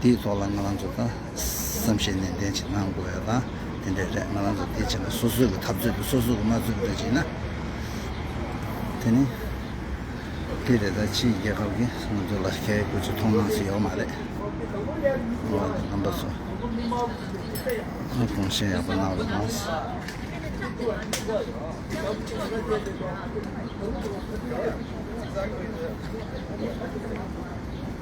འདིའི་ཐོག་ལ་ང་རང་ཚོ་དང་བསམ་ཤེས་ནན་ཏན་ཅིག་གནང་དགོས་ཡོད་དང་དེ་འདྲས་རེད་ང་རང་ཚོ་དེ་བྱས་ན་སོ་སོའི་གི་འཐབ་རྩོད་དེ་སོ་སོའི་གི་མ་རྩོད་པ་རེད་ཅིག་ན་དེ་ནི་དེ་རེད་ད་ཕྱིའི་རྒྱལ་ཁབ་གི་ང་ཚོ་ལ་ཁྱད་ཁོས་ཚོ་མཐོང་སྣང་སུ་ཡོད་མ་རེད་ང་རང་ཚོ་རྣམ་པ་ཚོ་གོང་བཞིན་ཡག་པོ་གནང་རོགས་གནང།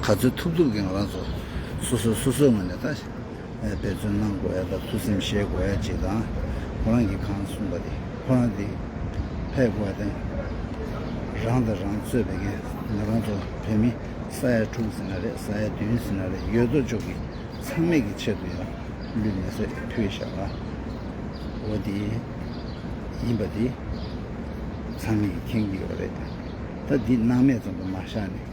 ག་ཚོད་ཐུབ་ཐུབ་ཀྱི་ང་རང་ཚོ་སོ་སོས་སོ་སོའི་ངོས་ནས་ད་འབད་བརྩོན་གནང་དགོས་ཡ་དང་ཐུགས་སེམས་བཞེས་དགོས་ཡ་ཅིག་དང་ཁོ་རང་གིས་གང་གསུངས་པ་དེ་ཁོ་རང་དེ་ཕེད་དགོས་ཡ་དང་རང་དང་རང་གཙོས་བས་ཀན་ང་རང་ཚོ་བོད་མི་ས་ཡ་དྲུག་ཟིན་ན་རེད་ས་ཡ་བདུན་ཟིན་ན་རེད་ཡོད་དོ་ཅོག་གིས་ཚང་མེད་ཀྱི་ཆེད་དུ་ཡང་ལུས་མེ་བསྲེགས་ཕུལ་བཞག་ཨ་འོ་དེ་ཡིན་པ་དེ་ཚང་མེད་ཀྱི་མཁྱེན་གྱི་ཡོད་རེད་ད་འདི་སྣང་མེད་ཙམ་དུ་མ་བཞག་ནས།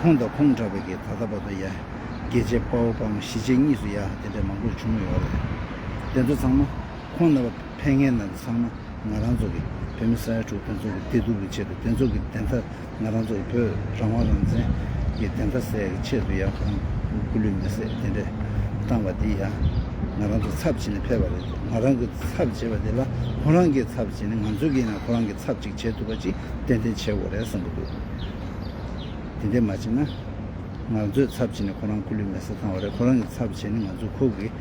ཁོང་དང་ཁོང་འདྲ་བའི་གིས་ད་ལྟ་བར་དུ་ཡ། རྒྱལ་གཅེས་དཔའ་བོ་དཔའ་མོ་གཞིས་བྱེས་གཉིས་སུ་ཡ་དེ་འདྲ་མང་པོར་བྱུང་མོད་ཡོད་རེད། དེ་ཚོ་ཚང་མ། ཁོང་རྣམ་པ་ཕལ་ངའི་ནང་དུ་ཚང་མ་ང་རང་ཚོ་གི་བོད་མི་ས་ཡ་དྲུག་དེ་ཚོ་གི་བདེ་སྡུག་གི་ཆེད་དུ་དེ་ཚོ་གི་བདེན་མཐའ་ང་རང་ཚོ་གི་བོད་རང་དབང་རང་བཙན་གི་བདེན་མཐའ་གསལ་གི་ཆེད་དུ་ཡ་ཁོང་སྐུ་ལུས་མེ་བསྲེགས་དེ་འདྲས་བཏང་བ་དེ་ཡ། ང་རང་ཚོ་ཚབ་བྱེད་ནས་ཕེབས་པ་རེད་འདུག་ང་རང་གི་ཚབ་བྱེད་པ་དེ་ལ་ཁོང་རང་གིས་ཚབ་བྱེད་ནས་ང་ཚོ་གིས་ཡིན་ན་ཁོང་རང་གི་ཚབ་ཅིག་བྱེད་ཐུབ་པ་ཅིག་ཏན་ཏན་བྱེད་དགོས་རེད་བསམ་གི་འདུག། དེ་འདྲས་མ་བྱས་ན། ང་ཚོས་ཚབ་བྱས་ནས་ཁོ་རང་ཁུ་ལུས་མེད་སར་བཏང་བ་རེད། ཁོ་རང་གིས་ཚབ་བྱས་ནས་ང་ཚོས་ཁོ་གིས་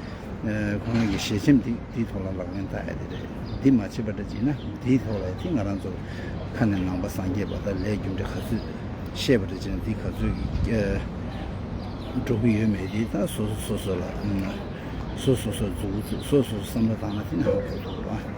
ཁོ་རང་གི་ཞལ་ཆེམས་དེའི་ཐོག་ལ་ལག་ལེན་བསྟར་ཡ་དེ་རེད། འདི་མ་བྱས་པ་འདྲ་བྱས་ན་འདིའི་ཐོག་ལ་ཡ་དེ་ང་རང་ཚོར་ཁ་ནས་ནང་པ་སངས་རྒྱས་པ་དག་ལས་རྒྱུ་འབྲས་ག་ཚོད་ཤེས་པ་རེད་བྱས་ན་འདི་ག་ཚོད་ཀྱིས་འགྲོ་གི་ཡོད་མེད་དེ་ད་སོ་སོ་སོ་སོ་ལ་སོ་སོ་སོ་སོར་འཛུལ་འཛུལ་སོ་སོ་སོ་བསམ་བློ་བཏང་ན་དེ་ནའང་འགྲོ་འདུག་ར།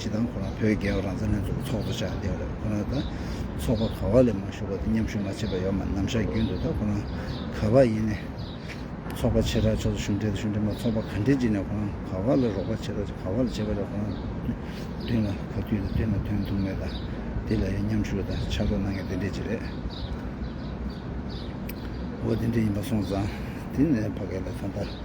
ཇི་ལྟར་ཁོ་རང་བོད་རྒྱལ་བ་རང་བཙན་ལྷན་ཚོགས་ཀྱི་ཚོགས་གཙོ་ཆགས་བསྡད་པ་རེད་ཁོ་རང་ད་ཚོགས་པ་ག་བ་ལས་མ་ཞུགས་པ་དེ་མཉམ་ཞུགས་མ་བྱས་པ་ཡོད་མ་ནམ་ཞག་རྒྱུན་དུ་ད་ཁོ་རང་ག་བ་ཡིན་ནས་ཚོགས་པ་ཆེ་ཕྲ་ཕྱོགས་སུ་ཞུགས་འབྲེལ་དང་ཞུགས་འབྲེལ་མ་ཚོགས་པ་ག་འབྲེལ་བྱེད་ནས་ཁོ་རང་ག་བ་ལ་རོགས་པ་བྱེད་ད་ག་བ་ལ་བྱེད་པ་རེད་ཁོ་རང་མདུན་ལ་ག་དུས་ད་དུས་ན་དོན་ཐུག་མེད་ད་དེ་ལ་ཡང་མཉམ་ཞུགས་ད་ཕྱག་རོགས་གནང་ཡང་དེ་འདྲས་ཅིག་རེད་འོ་དེ་འདྲས་ཡིན་པ་སོང་ཙང་དེ་ནས་ཕ་གས་ལ་ད་ད།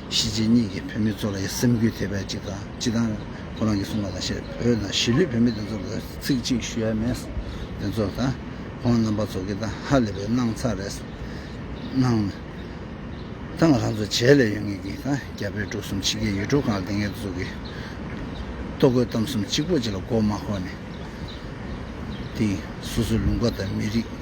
གཞིས་བྱེས་གཉིས་ཀྱི་བོད་མི་ཚོ་ལ་ཡང་སེམས་འགུལ་ཐེབས་པའི་ཅིག་དང་ཅི་དང། ཁོ་རང་གིས་གསུངས་པ་ལ་ཞེས་བོད་ནང་གཞིས་ལུས་བོད་མི་དེ་ཚོ་ལ་ཚིག་གཅིག་ཞུ་ཡ་མེད། དེ་ཚོ་དང་ཁོང་རྣམ་པ་ཚོ་གི་ད་ཧ་ལས་པའི་སྣང་ཚག་རེད། སྣང། ད་ང་རང་ཚོ་བྱས་ལས་ཡོད་ངེས་ཀྱི་ད་རྒྱ་བོད་འབྲུག་གསུམ་ཕྱི་རྒྱལ་ཡུལ་གྲུ་གང་དེ་ངེད་ཚོ་གི་ལྟོ་གོས་གཏམ་གསུམ་གཅིག་པོ་གཅིག་ལ་མགོ་མ་འཁོར་ནས། དེ་སོ་སོའི་ལུང་པ་དང་མི་རིགས།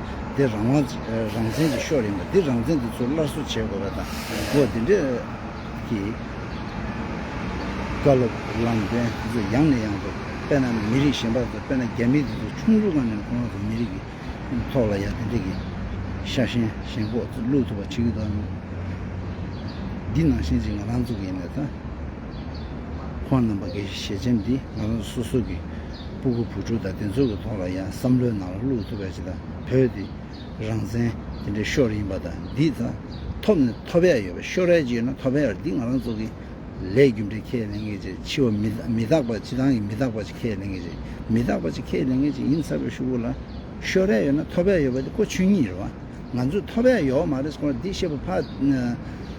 འདི་རང་དབང། རང་བཙན་གྱི་ཤོག་ཡིན་པ་འདི་རང་བཙན་དུ་ཚུར་སླར་གསོ་བྱེད་དགོས་པ་དང་པོ་འདི་འདྲ་གི། བཀའ་སློབ་ལམ་སྟོན་འདི་ཚོ་ཡང་ནས་ཡང་དུ་དཔེར་ན་མི་རིགས་གཞན་པ་ཚོ་དཔེར་ན་རྒྱ་མི་འདི་ཚོ་ཆུང་ཆུང་ག་ནས་གོང་དུ་མི་རིགས་ཀྱི་ཐོག་ལ་ཡང་འདི་འདྲ་གི་ཤ་ཞེན་ཞེན་ཁོག་ཚོ་བླུགས་ཐུབ་པ་བྱེད་ཀྱི་འདུག་འདི་ནང་བཞིན་ཅིག་ང་རང་གཙོ་གི་ཡིན་པས་ད་ཁོང་རྣམ་པ་འགས་ཞལ་ཆེམས་འདི་ང་རང་ཚོ་སོ་སོ་གི། སྤུ་གུ་བུ་ཕྲུག་དང་དེ་ཚོ་གི་ཐོག་ལ་ཡང་བསམ་བློའི་ནང་ལ་བླུགས་ཐུབ་པ་ཞིག་དང་བོད་དེ་རང་བཙན་དེ་འདྲའི་ཤོར་ཡིན་པ་དང་འདི་ད་ཐོབ་ནས་ཐོབ་ཡ་ཡོད་པ་ཤོར་ཡ་ཅིག་ཡོད་ན་ཐོབ་ཡ་རེད་འདི་ང་རང་ཚོ་གི་ལས་རྒྱུ་འབྲས་ཁས་ལེན་མཁན་ཅིག་འཆི་བ་མི་མི་རྟག་པ་འཆི་སྟངས་ཀྱི་མི་རྟག་པ་ཅིག་ཁས་ལེན་མཁན་ཅིག་མི་རྟག་པ་ཅིག་ཁས་ལེན་མཁན་ཅིག་ཡིན་ཚར་བའི་ཤུ་གུ་ལ་ཤོར་ཡ་ཡོད་ན་ཐོབ་ཡ་ཡོད་པ་འདི་ཀོ་ཆོད་ཉིད་རེད་བ་ང་ཚོས་ཐོབ་ཡ་ཡོད་མ་རེད་སྐོར་འདི་བཤད་པ་ཕ་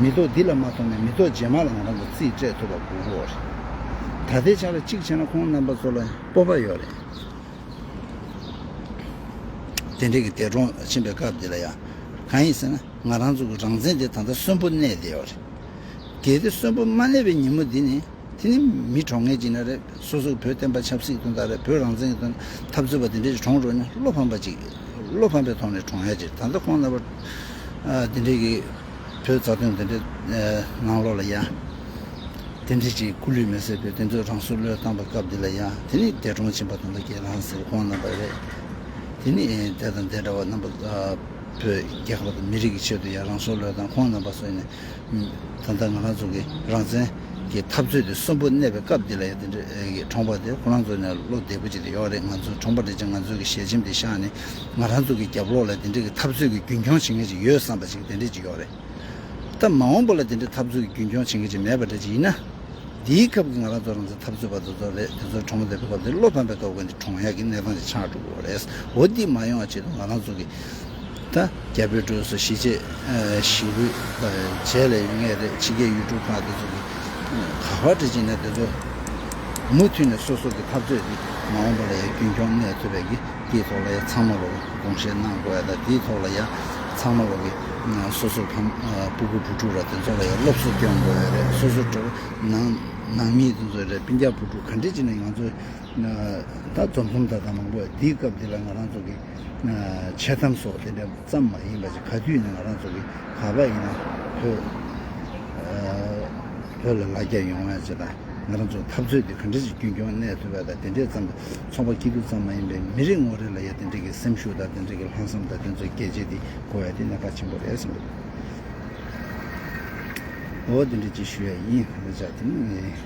མེ་ཏོག་འདི་ལ་མ་ཐོགས་ནས་མེ་ཏོག་རྗེས་མ་ལ་ང་རང་གི་རྩིས་སྤྲད་ཐུབ་པ་དགོས་མཁོ་བ་རེད། ད་ལྟའི་ཆར་གཅིག་བྱས་ན་ཁོང་རྣམ་པ་ཚོ་ལ་སྤོབས་པ་ཡོད་རེད། དེ་འབྲེལ་གྱི་འདས་གྲོངས་ཕྱིན་པའི་སྐབས་འདི་ལ་ཡང། གང་ཡིན་ཟེར་ན་ང་རང་ཚོ་གི་རང་བཙན་དེ་ད་ལྟ་གསོན་པོ་གནས་བསྡད་བ་རེད། གལ་ཏེ་གསོན་པོ་མ་གནས་པའི་ཉིན་མོ་འདི་ནི། དེ་ནི་མི་གྲོངས་ངེས་ཅི་ན་རེ། སོ་སོར་བོད་བསྟན་པ་ཆབ་སྲིད་དོན་དག་རེ་བོད་རང་བཙན་གྱི་དོན་འཐབ་རྩོད་པ་འདི་འདྲའི་རིགས་གྲོངས་འགྲོ་ནི་བློ་ཕམ་པ་གཅིག་བློ་ཕམ་པའི་ཐོག་ནས་གྲོངས་ཡ་ཅིག་ད་ལྟ་ཁོང་རྣམ་པ་འདི་འདྲའི་གི་བོད་རྩ་དོན་འདི་འདྲའི་ནང་ལོག་ལ་ཡ། དེ་འདྲའི་ཅིག་སྐུ་ལུས་མེ་སྲེག་བོད་དེ་ཚོས་རང་སྲོག་བློས་བཏང་པའི་སྐབས་འདི་ལ་ཡ་དེ་ནི་འདས་གྲོངས་ཕྱིན་པ་དང་ལ་ཁྱེད་རང་ཟེར་ཁོང་རྣམ་པ་རེད། དེ་ནི་འདས་དང་འདས་འདྲ་བ་རྣམ་པ་བོད་རྒྱལ་ཁབ་དང་མི་རིགས་ཀྱི་ཆེད་དུ་ཡ་རང་སྲོག་བློས་བཏང་ཁོང་རྣམ་པ་སོན་ནས། ད་ལྟ་ང་རང་ཚོ་གི་རང་བཙན་གྱི་འཐབ་རྩོད་དེ་གསོན་པོ་གནས་པའི་སྐབས་འདི་ལ་ཡང་དེ་འདྲ་གི་གྲོང་པ་དེ་ཁོ་རང་ཚོ་ནས་བློ་བདེ་པོ་ཅིག་དེ་ཡོད་རེད་ང་ཚོ་གྲོང་པ་འདྲ་ཅན་ང་ཚོ་གི་ཞལ་ཆེམས་དེ་བཞག་ནས་ང་རང་ཚོ་གི་རྒྱབ་ལོག་ལ་དེ་འདྲ་གི་འཐབ་རྩོད་ཀྱི་རྒྱུན་འཁྱོངས་བྱེད་མཁན་ཅིག་ཡོད་བསམ་པ་ཅིག་དེ་འདྲ་ཅིག་ཡོད་རེད་ད། མ་འོངས་པ་ལ་དེ་འདྲ་འཐབ་རྩོད་ཀྱི་རྒྱུན་འཁྱོངས་བྱེད་མཁན་ཅིག་མེད་པ་འདྲ་ཅིག་ཡིན་ན། འདིའི་སྐབས་ཀྱི་ང་རང་ཚོ་རང་བཙན་འཐབ་རྩོད་པ་དེ་ཚོ་རེད་དེ་ཚོ་གྲོང་པ་འདེབས་པའི་སྐབས་འདིར་བློ་ཕམ་པའི་ཐོག་གི་འདི་གྲོང་ཡག་གི་གནས་སྟངས་ཅིག་ཆགས་འགྲོ་གི་རེད། འོ་འདི་མ་ཡོང་བ་ཆེད་དུ་ང་རང་ཚོ་གི། ད་རྒྱ་བོད་གྲོས་སུ་གཞིས་བྱེས་བཞི་པོའི་བྱས་ལས་ཡོད་ངེས་རེད་ཕྱི་རྒྱལ་ཡུལ་གྲུ་ཁག་དེ་ཚོ་གིས་ག་བར་འབྲེལ་གྱིན་ན་དེ་ཚོ་མུ་མཐུད་ནས་སོ་སོ་གི་འཐབ་རྩོད་དེ་མ་འོངས་པ་ལ་ཡང་རྒྱུན་འཁྱོངས་གནས་ཐུབ་པའི་གི་དེའི་ཐོག་ལ་ཡང་ཚང་མ་ལོ་དགོངས་བཞེས་གནང་དགོས་ཡ་ད་དེའི་ཐོག་ལ་ཡང་ཚང་མ་ལོ་གི་སོ་སོ་ཕམ་སྤུ་དགུ་བུ་དྲུག་ར་དེ་ཚོ་ལ་ཡང་སློབ་གསོ་སྐྱོང་དགོས་ཡ་རེད་སོ་སོ་གྲོས་ནང་ནང་མི་དེ་ཚོ་རེད་པིན་རྒྱ་བུ་དྲུག་ག་འདྲེ་གྱིན་ན་ཡང་ཚོ་ད་རྫོང་ཁོམ་ད་ད་མང་པོ་ཡ་དེའི་སྐབས་དེ་ལ་ང་རང་ཚོ་གི། འཆལ་གཏམ་སོགས་དེ་འདྲ་ཙམ་མ་ཡིན་པ་ཞིག་ག་དུས་ནས་ང་རང་ཚོ་གི་ག་པ་ཡིན་ན་བོད་ལ་ལ་རྒྱ་ཡོང་བ་ཅེས་དང་ང་རང་ཚོ་འཐབ་རྩོད་དེ་ག་འདྲ་ཞིག་རྒྱུན་སྐྱོང་གནས་ཐུབ་པ་དང་དེ་འདྲས་ཙམ་དུ་ཚོགས་པ་སྐྱིད་སྡུག་ཙམ་མ་ཡིན་པའི་མི་རེ་ངོ་རེ་ལ་ཡང་དེ་འདྲས་ཀྱི་སེམས་ཤུགས་དང་དེ་འདྲས་ཀྱི་ལྷག་བསམ་དང་དེ་ཚོའི་སྐད་ཆས་དེ་གོ་བས་དེ་ནས་ཕར་ཆེན་པོ་རེད་བསམ་འདུག་འོ་དེ་འདྲས་ཅིག་ཞུ་ཡ་ཡིན་ཨོ་ཅག་དེ་ནི།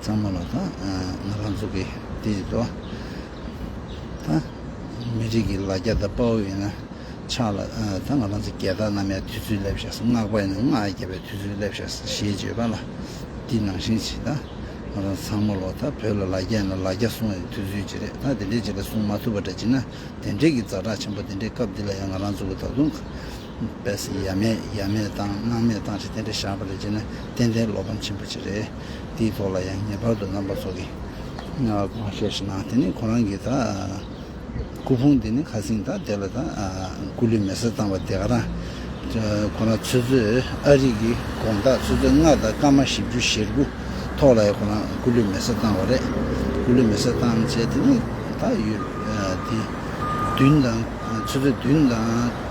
གཙང་མ་ལ་དང་ང་རང་ཚོ་གི་དེ་ལྟོ་དང་མི་རིགས་ཀྱི་ལ་རྒྱ་དང་དཔའ་བོ་ཡིན་ན་ཕྱག་ལ་དང་ང་རང་ཚོ་རྒྱལ་དར་རྣམ་ཡང་དུས་ཚོད་སླེབས་ཤགས་སུ་སྔགས་པ་ཡིན་ན་སྔགས་ཡང་རྒྱ་བའི་དུས་ཚོད་སླེབས་ཤགས་སུ་ཞེས་བརྗོད་པ་ལ་འདི་ནང་བཞིན་བྱེད་ད་ང་རང་ཚང་མ་ལོ་ད་བོད་ལ་ལ་རྒྱ་ཡིན་ན་ལ་རྒྱ་སྲུང་ཡང་དུས་ཚོད་ཅིག་རེད་ད་དེ་འདྲའི་བྱེད་ལ་སྲུང་མ་ཐུབ་པ་འདྲ་བྱེད་ན་དེ་འདྲའི་གི་རྫ་དྲག་ཆེན་པོ་དེ་འདྲའི་སྐབས་འདི་ལ་ཡང་ང་རང་ཚོ་གི་ད་དུང་པས་ཡབ་མེས་ཡབ་མེས་དང་སྣང་མེས་དང་རེ་དེ་འདྲ་བཞག་པ་ལས་བྱས་ན་ཏན་ཏན་བློ་ཕམ་ཆེན་པོ་ཅིག་རེད། འདིའི་ཐོག་ལ་ཡང་ངེས་པར་དུ་རྣམ་པ་ཚོ་གིས་གོང་བཤད་བྱེད་ན་དེ་ནི་ཁོ་རང་གིས་ད་སྐུ་ཕུང་འདི་ནི་ཁ་སིང་ད་དེ་ལ་ད་སྐུ་ལུས་མེ་སྲེག་བཏང་བ་དེ་ག་རང་ཁོ་རང་ཚོད་ཚོད་ཨ་རིག་གི་དགོངས་དག་ཚོད་ཚོད་ལྔ་དང་སྐར་མ་བཞི་བཅུ་ཞེ་དགུ་ཐོག་ལ་ཡང་ཁོ་རང་སྐུ་ལུས་མེ་སྲེག་བཏང་བ་རེད། སྐུ་ལུས་མེ་སྲེག་བཏང་བྱས་དེ་ནི་ད་ཡུལ་འདི་བདུན་དང་ཚོད་ཚོད་བདུན་དང།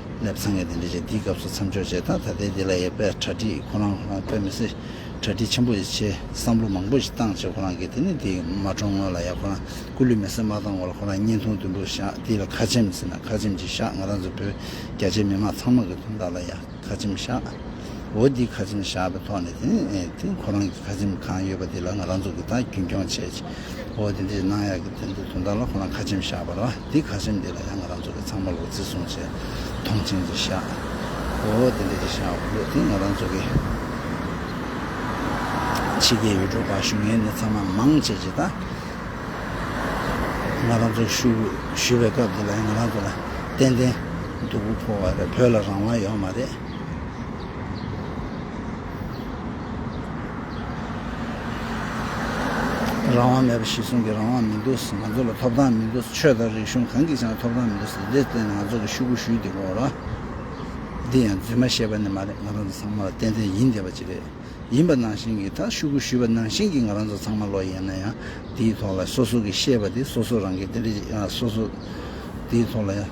ནས་འཚང་ངེ་དེ་འདྲ་བྱས་འདིའི་སྐབས་སུ་མཚམས་འཇོག་བྱས་དང་ད་ལྟའི་འདི་ལ་ཡོད་པའི་གྲ་སྒྲིག་ཁོ་རང་ལ་ཕན་མི་སྲིད། གྲ་སྒྲིག་ཆེན་པོ་ཡི་ཆེད་བསམ་བློ་མང་པོ་ཞིག་བཏང་བྱས་ཁོ་རང་གིས་དེ་ནི་འདི་མ་གྲོངས་སྔོན་ལ་ཡང་ཁོ་རང་སྐུ་ལུས་མེ་སྲེག་མ་བཏང་བར་ལ་ཁོ་རང་བརྙན་ཐུང་བདུན་པོ་བཞག་འདི་ལ་ཁ་ཆེམས་ཟེར་ན་ཁ་ཆེམས་ཅིག་བཞག་ང་རང་ཚོ་བོད་རྒྱ་ཆེའི་མི་དམངས་ཚང་མ་གི་དོན་དག་ལ་ཡང་ཁ་ཆེམས་བཞག་འོ་འདི་ཁ་ཆེམས་བཞག་པའི་ཐོག་ནས་དེ་ནི་དེ་ཁོ་རང་གིས་ཁ་ཆེམས་གང་ཡོད་པ་འདི་ལ་ང་རང་ཚོ་གིས་ད་རྒྱུན་འཁྱོངས་བྱས་འོ་འདི་འདྲ་ཞིག་གནང་ཡག་གི་འདི་འདི་དོན་དག་ལ་ཁོ་རང་ཁ་ཆེམས་བཞག་པ་ལ། འདི་ག་སེམས་འདི་ལ་ཡང་ང་རང་ཚོ་གི་ཚང་མ་ལོ་རྩིས་སྲུང་བྱེད་མཐོང་ཆེན་གྱི་ཤ་བོ་དེ་འདྲ་ཞིག་ཤ་བོ་དེ་ང་རང་ཚོ་གི་ཕྱི་རྒྱལ་ཡུལ་གྲུ་བ་ཞུ་མཁན་ནི་ཚང་མ་མང་ཆེ་ཆེ་དང་ང་རང་ཚོ་ཞུ་ཞུ་བའི་སྐབས་འདི་ལ་ཡང་ང་རང་ཚོ་ལ་ཏན་ཏན་སྡུག་པོ་ཕོག་བ་རེད་བོད་ལ་རང་དབང་ཡོད་མ་རེད། རང་དབང་མེད་པ་ཞིག་གསུང་གི་རང་དབང་མི་འདུག་ང་ཚོ་ལ་ཐོབ་ཐང་མི་འདུག་ཆོས་དང་རིག་གཞུང་གང་གིས་ཀྱང་ཐོབ་ཐང་མི་འདུག་ཟེར་དེར་བརྟེན་ང་ཚོ་གིས་ཤུ་གུ་ཞུས་འདི་གོ་ར། འདི་ཡང་རྫུན་མ་བཤད་པ་ནི་མ་རེད་ང་རང་ཚོ་ཚང་མ་ལ་ཏན་ཏན་ཡིན་བསྡད་པ་ཅིག་རེད། ཡིན་པ་ནང་བཞིན་གྱིས་ད་ཤུ་གུ་ཞུས་པ་ནང་བཞིན་གྱིས་ང་རང་ཚོ་ཚང་མ་ལོག་ཡེ་ན་ཡང་འདིའི་ཐོག་ལ་སོ་སོ་གིས་བཤད་པ་དེ་སོ་སོ་རང་གིས་ཏན་ཏན་བྱེད་ཡོང་ཨ་སོ་སོ། འདིའི་ཐོག་ལ་ཡང།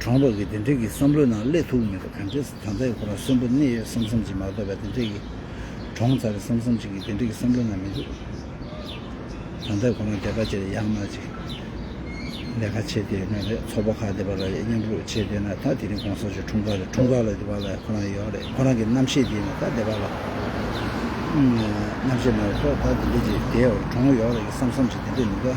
གྲོང་འབག་གིས་དེ་འབྲེལ་གྱི་བསམ་བློའི་ནང་སླེབས་ཐུབ་མེད་པ་ག་འདྲས་སུ་ད་ལྟ་ཡི་ཁོ་རང་གསོན་པོ་གནས་ཡོད་བསམ་བསམ་ཅིག་མ་གཏོགས་པའི་དེ་འབྲེལ་གྱི། གྲོང་ཚ་རེད་བསམ་བསམ་ཅིག་གི་དེ་འབྲེལ་གྱི་བསམ་བློའི་ནང་མི་འདུག། ད་ལྟ་ཡི་ཁོ་རང་དེ་ག་ཅེར་ཡག་ན་ཅིག། ལས་ཁ་ཆེ་དེ་མེད་རེད་ཚོགས་པ་ཁག་དེ་བ་ལ་ཡ་མཉམ་རུག་ཆེ་དེ་ན་ད་དེ་རིང་གོང་ས་མཆོག་འཁྲུངས་སྐར་རེད་འཁྲུངས་སྐར་ལ་དེ་བ་ལ་ཁོ་རང་ཡོད་རེད་ཁོ་རང་གི་རྣམ་ཤེས་དེ་ན་ད་དེ་བ་ལ། རྣམ་ཤེས་མེད་རེད་ཐོག་ད་དེ་འབྲེལ་གྱི་དེའོ་གྲོང་ཡོག་རེད་གི་བསམ་བསམ་ཅིག་དེ་འབྲེལ་མི་དགའ།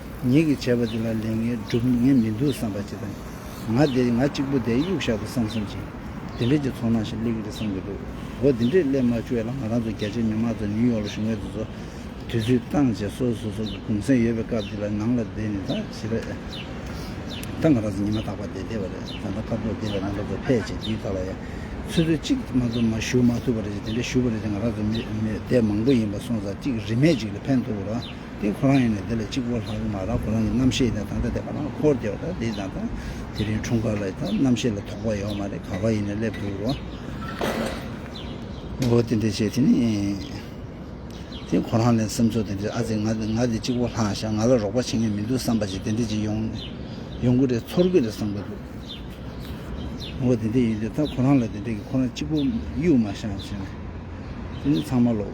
ངེད་ཀྱིས་བྱས་པ་འདི་ལ་ལས་ངེད་སྒྲུབ་ངེས་མི་འདུག་བསམ་པ་ཅི་དང། ང་འདི་ང་གཅིག་པུ་དེ་གཡུག་བཞག་ཏུ་བསམ་བསམ་ཅིང། འདི་འདྲའི་གྱི་ཚོར་སྣང་ཞིག་སླེབས་ཀྱི་རེད་བསམ་གྱི་འདུག་གོ་འདི་འདྲའི་སླེབས་མ་བཅུག་ཡ་ལ་ང་རང་ཚོ་རྒྱ་ཆེའི་མི་མང་ཚོ་ནིའུ་ཡོག་ལ་བཞུགས་མེད་དུ་ཚོ། དུས་ཚོད་བཏང་རྗེས་སོ་སོ་སོ་གི་གུང་སེང་ཡོད་པའི་སྐབས་འདི་ལ་ནང་ལ་བསྡད་ནས་ད་བྱེད་པ། ད་ང་རང་ཚོ་ཉི་མ་རྟག་པར་བསྡད་བསྡད་པ་རེད་ད་ད་སྐབས་ཐོག་འདི་ལ་ང་རང་ཚོ་ཕེབས་རྗེས་དུས་ད་ལ་ཡ། ཚོད་ཚོད་ཅིག་ང་ཚོ་མ་བཞུགས་མ་ཐུབ་པ་རེད་ཅེས་འདི་འདྲ་བཞུགས་པ་རེད་ཅེས་ང་རང་ཚོ་མི་མི་བསྡད་མང་པོ་ཡིན་པ་སོང་ཙང་གཅིག་རིན་མེད་ཅིག་ལ་ཕན་ཐོགས་རོགས། དེ་ཁོ་རང་ཡིན་ནས་དེ་ལ་གཅིག་པོ་ལྷག་གི་མ་རང་ཁོ་རང་གི་རྣམ་ཤེས་དེ་ད་ལྟ་དེ་ཁ་ནང་འཁོར་བསྡད་པ་དང་དེ་ད་ལྟ་དེ་རིང་འཁྲུངས་སྐར་ལ་ཡིན་སྟབས་རྣམ་ཤེས་ལ་དོགས་པ་ཡོད་མ་རེད་ག་ག་ཡིན་ནས་སླེབས་འདུག་རོ། འོ་དེ་འདྲས་བྱས་དེ་ནི། དེ་ཁོ་རང་ལས་སེམས་ཚོར་དེ་འདྲས་ཨ་ཙི་ང་ང་དེ་གཅིག་པོ་ལྷག་བཞག་ང་ལ་རོགས་པ་བྱེད་མཁན་མི་འདུག་བསམ་པ་ཅིག་དེ་འདྲས་ཅིག་ཡོང་ཡོང་གི་རེད་ཚོར་གི་རེད་བསམ་གི་འདུག་འོ་དེ་འདྲས་ཡིན་དུས་ད་ཁོ་རང་ལ་དེ་འདྲས་ཀྱི་ཁོ་རང་གཅིག་པོ་གཡུག་མ་བཞག་ཟེར་ནས་དེ་ནི་ཚང་མ་ལོག།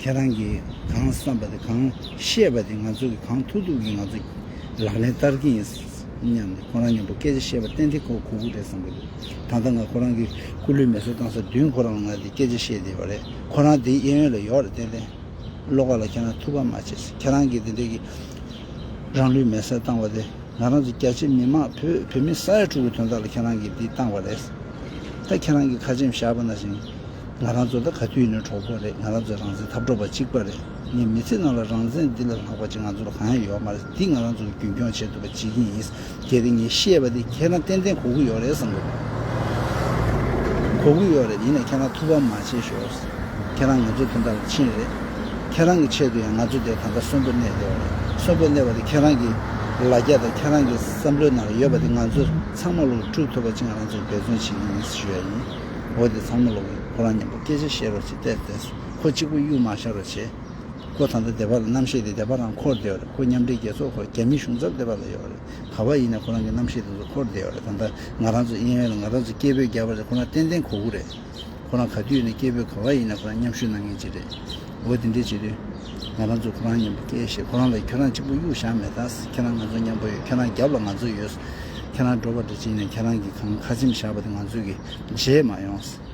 ཁྱེད་རང་གིས་གང་བསམ་པ་དེ་གང་བཤད་པ་དེ་ང་ཚོ་གིས་གང་ཐུག་ཐུག་གིས་ང་ཚོ་ལག་ལེན་བསྟར་གྱི་ཡིན་སྙམ་ནས་ཁོ་རང་མཉམ་པོ་སྐད་ཆ་བཤད་པ་གཏན་གཏན་ཁོ་གུ་གུ་རེད་བསམ་གྱི་འདུག་ད་ལྟ་ང་ཁོ་རང་གིས་སྐུ་ལུས་མེ་གསོད་བཏང་ས་བདུན་ཁོ་རང་ལ་ང་དེ་སྐད་ཆ་བཤད་བསྡད་པ་རེད་ཁོ་རང་དེའི་གཡས་གཡོན་ལ་ཡོད་རེད་ཏན་ཏན། བློ་ཁ་ལ་ཁྱེད་རང་ཐུགས་ཕམ་མ་བྱེད་ཁྱེད་རང་གིས་དེ་འདྲས་ཀྱི་རང་ལུས་མེ་གསོད་བཏང་བ་དེ་ང་རང་ཚོ་རྒྱ་ཆེ་མི་དམངས་བོད་བོད་མི་ས་ཡ་དྲུག་གི་དོན་དག་ལ་ཁྱེད་རང་གིས་འདི་བཏང་བ་རེད་ད་ཁྱེད་རང་གིས་ཁ་ཆེམས་བཞག་པ་ན་ཞིང་ང་རང་ཚོ་ད་ག་དུས་ནས་གྲོགས་པོ་རེད་ང་རང་ཚོ་རང་བཙན་འཐབ་གྲོགས་པ་གཅིག་པ་རེད་ངས་མི་ཚེ་ནང་ལ་རང་བཙན་འདི་ལ་ལྷག་པ་ཅིག་ང་ཚོ་ལ་གང་ཡང་ཡོད་མ་རེད་འདི་ང་རང་ཚོ་རྒྱུན་སྐྱོང་བྱས་འདུག་པ་བྱེད་ཀྱིན་ཡིན་གལ་ཏེ་ངས་ཤེས་པ་དེ་ཁྱེད་རང་ཏན་ཏན་གོ་གི་ཡོད་རེད་བསམ་གི་འདུག་གོ་གི་ཡོད་རེད་ཡིན་ན་ཁྱེད་རང་ཐུགས་ཕམ་མ་བྱེད་ཤོག་ཁྱེད་རང་ང་ཚོ་དོན་དག་ལ་ཕྱིན་རེད་ཁྱེད་རང་གི་ཆེད་དུ་ཡང་ང་ཚོ་དེ་ད་ལྟ་གསོན་པོ་གནས་ཡོད་རེད་གསོན་པོ་གནས་པ་དེ་ཁྱེད་རང་གི་ལ་རྒྱ་དང་ཁྱེད་རང་གི་བསམ་བློའི་ནང་ལ་ཡོད་པ་དེ་ང་ཚོ་ཚང་མ་ལོངས་སྤྲུགས་ཐུབ་པ་ཅིག་ང་རང་ཚོ་འབད་བརྩོན་བྱེད་ཀྱིན་ཡིན་ཞུ་ཡ་ཡིན། འོ་དེ་ཚང་མ་ལོག་གི་ཁོ་རང་མཉམ་པོ་སྐད་ཆ་བཤད་རོགས་བྱེད་བལྟས་བལྟས་སོང་ཁོ་གཅིག་པོ་གཡུག་མ་བཞག་རོགས་བྱེད། ཁོ་ད་ལྟ་སྡེ་བ་ལ་རྣམ་ཤེས་དེ་སྡེ་བ་རང་འཁོར་བསྡད་ཡོག་རེད་ཁོ་མཉམ་འབྲེལ་རྒྱལ་ཚོགས་ཁོ་རྒྱ་མི་གཞུང་ཚབ་སྡེ་བ་ལ་ཡོག་རེད་ག་བ་ཡིན་ནའི་ཁོ་རང་གི་རྣམ་ཤེས་དེ་ཚོ་འཁོར་བསྡད་ཡོག་རེད་ད་ལྟ་ང་རང་ཚོ་གཡེང་བས་ལ་ང་རང་ཚོ་སྐད་འབོད་རྒྱག་པ་རེད་ཁོ་རང་ཏན་ཏན་གོ་དགོས་རེད་ཁོ་རང་ག་དུས་ཡོད་ནའི་སྐད་འབོད་ག་བ་ཡིན་ནའི་ཁོ་རང་མཉམ་ཞུགས་གནང་མཁན་གཅིག་རེད། འོ་དེ་འདྲའི་བྱེད་དུས། ང་རང་ཚོས་ཁོ་རང་མཉམ་པོ་སྐྱེས་ཞེས་ཁོ་རང་ལ་ཁྱོད་རང་གཅིག་པུ་གཡུག་བཞག་མེད་ད། ཁྱེད་རང་ང་ཚོ་མཉམ་པོ་ཡོད་ཁྱེད་རང་རྒྱབ་ལ་ང་ཚོ་ཡོད། ཁྱེད་རང་འགྲོ་བ་འདྲ་བྱས་ནས་ཁྱེད་རང་གིས་གང་ཁ་ཆེམས་བཞག་པ་དེ་ང་ཚོས་ཀྱིས་བརྗེད་མ་ཡོང།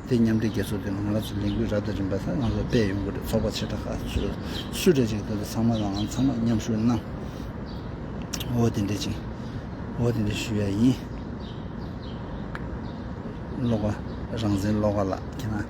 དེ་མཉམ་འབྲེལ་རྒྱལ་ཚོགས་དེ་ནང་ང་རང་ཚོས་ལས་འགུལ་རབ་དང་རིམ་པ་དག་ང་ཚོར་སྤེལ་ཡོང་གི་རེད་ཚོགས་པ་ཆེ་ཕྲ་ཁག་ཚོས་སུ་གྲ་ཅིག་འདོད་པ་ཚང་མ་ལའང་ཚང་མར་མཉམ་ཞུགས་གནང། འོ་དེ་འདྲའི་བྱེད། འོ་དེ་འདྲའི་ཞུ་ཡ་ཡིན། བློ་དགའ། རང་བཙན་བློ་དགའ་ལགས་ཁྱེད་རང།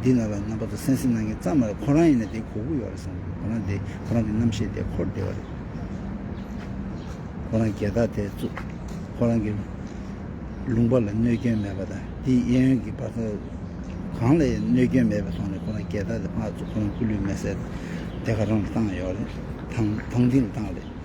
འདི་ལ་ལ་རྣམ་པ་དང་སེམས་སེམས་སྣང་གི་རྩ་མ་རེད་ཁོ་རང་ཡིན་ན་དེ་གོ་དགོས་ཡོད་རེད་བསམ་གི་ཁོ་རང་དེ་ཁོ་རང་གི་རྣམ་ཤེས་དེ་འཁོར་བདེ་བ་རེད། ཁོ་རང་རྒྱལ་དར་དེ་བཙུགས། ཁོ་རང་གི་ལུང་པ་ལ་གནོད་སྐྱོན་མེད་པ་དང་དེའི་གཡས་གཡོན་གི་པར་ཁ་གང་ལ་ཡང་གནོད་སྐྱོན་མེད་པའི་ཐོག་ནས་ཁོ་རང་རྒྱལ་དར་དེ་ཕར་བཙུགས་ཁོ་རང་སྐུ་ལུས་མེ་སྲེག་དེ་ཁ་རང་ལ་བཏང་ཡོད་རེད། དང་དང་དེ་ལ་བཏང་རེད།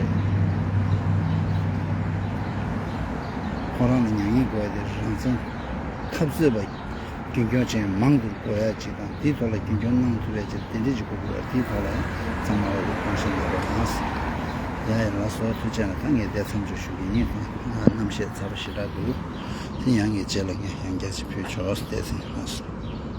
ཁོང་རང་ལ་མྱ་ངན་གུ་བ་དེ་རང་བཙན་འཐབ་རྩོད་པ་རྒྱུན་འཁྱོངས་ཅན་མང་དུ་འགོ་ཡག་ཅིག་དང་དེའི་ཐོག་ལ་རྒྱུན་འཁྱོངས་གནང་ཐུབ་པའི་ཆེད་དུ་དེ་འབྲེལ་གྱི་གོ་བསྡུར་བ་དེའི་ཐོག་ལ་ཡང་གཙང་མ་བར་དུ་གཏོང་བཞིན་ཡོད་པ་དང། ཡ་ཡ་ལགས་སོགས་ཐུགས་ཆེ་ན་ད་ངས་འདས་མཚམས་འཇོག་ཞུ་གི་ཡིན། རྣམ་བཤད་ཚར་བ་ཞེ་དྲག་འདུག་དེ་ཡང་ངས་བརྗེད་ལ་ངས་ཡང་རྒྱ་ཆེ་ཕུལ་ཆོག་འདས་ཟིན་ཧ།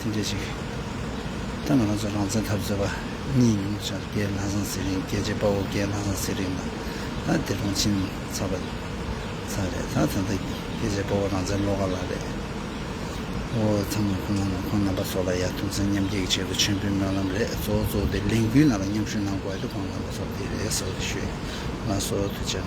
དེ་འདྲའི་ཞིག་ད་ང་རང་ཚོ་རང་བཙན་འཐབ་རྩོད་པ་གཉིས་མིང་པོ་ཆགས་རྒྱའི་ལྷ་བཟང་ཚེ་རིང་རྒྱལ་གཅེས་དཔའ་བོ་རྒྱའི་ལྷ་བཟང་ཚེ་རིང་དང་ད་དེ་རང་ཕྱིན་ཚར་བ་ཚར་རེད་ད་ད་ལྟ་རྒྱལ་གཅེས་དཔའ་བོ་རང་བཙན་བློ་ཁ་ལགས་རེད་ཨོ་ཚང་མ་ཁོང་ནང་ནང་ཁོང་རྣམ་པ་སོགས་ལ་ཡར་ཐོན་ཚན་མཉམ་སྐྱེད་ཀྱི་ཆེད་དུ་མཆོད་འབུལ་སྨོན་ལམ་རེད་གཙོ་བོ་གཙོ་བོ་དེ་ལས་འགུལ་ནང་ལ་མཉམ་ཞུགས་གནང་དགོས་བ་དེ་ཁོང་རྣམ་པ་སོགས་དེ་རེད་ཟེར་བ་དེ་ཞུས་ལ་སོ་ཐུ་བྱས་ན།